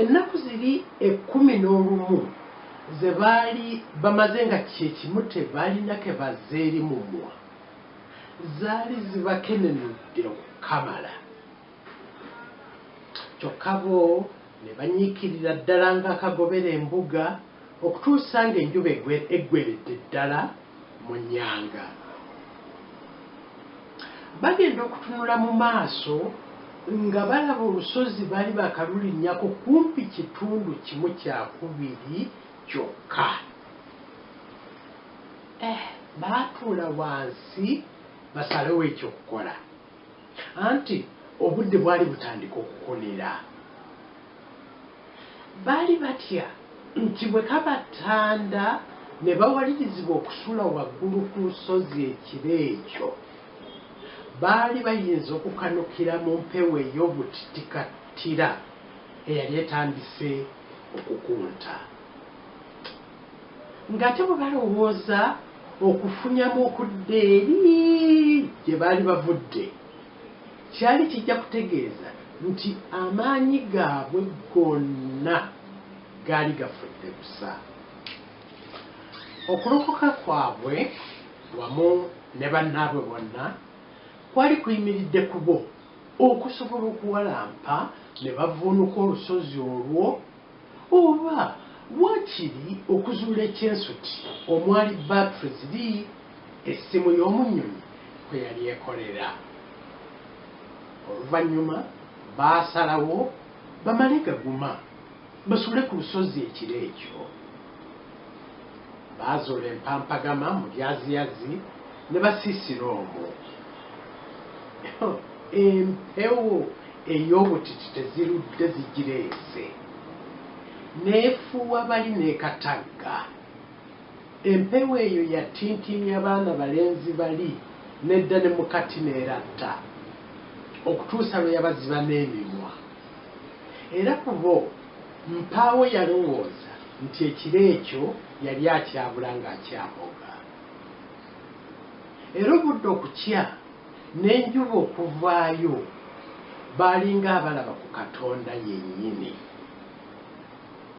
Ennaku ziri ekkumi n'olumu ze baali bamaze nga kye kimu tebalina ke bazza eri mumwa, zaali zibakenenudde okukamala. Kyokka bo ne banyiikirira ddala ng'akagobera embuga okutuusa ng'enjuba eggweeredde ddala mu nnyanga. Bagenda okutunula mu maaso nga balaba olusozi bali bakalulinnyako kumpi kitundu kimu kya kubiri kyokka. Eh, baatuula wansi basalewo eky'okukola. Anti obudde bwali butandika okukonera. Baali batya nti bwe kabatanda ne bawalirizibwa okusula waggulu ku lusozi ekiro ekyo, baali bayinza okukanukira mu mpewo ey'obuttikattira eyali etandise okukunta. Nga ate bwe balowooza okufunyamu okudda eri gye baali bavudde! Kyali kijja kutegeeza nti amaanyi gaabwe gonna gaali gafudde busa. Okulokoka kwabwe wamu ne bannaabwe bonna kwali kuyimiridde ku bo okusobola okuwalampa ne bavvuunuka olusozi olwo. Oba waakiri okuzuula ekyensuti omwali bbaatule ziri essimu y'omu nnyonyi kwe yali ekolera. Oluvannyuma baasalawo bamale gaguma basule ku lusozi ekiro ekyo. Baazuula empampagama mu byaziyazi ne basiisira omwo. Empewo ey'obutiti tezirudde zigireese, n'efuuwa bali n'e Katagga. Empewo eyo yatintiimya baana balenzi bali n'edda ne mu kati n'eratta, okutuusa lwe yabaziba n'emimwa. Era ku bo. Mpaawo yalowooza nti ekiro ekyo yali akyabula ng'akyaboga. Era obudde okukya n'enjuba okuvaayo baalinga abalaba ku Katonda yennyini.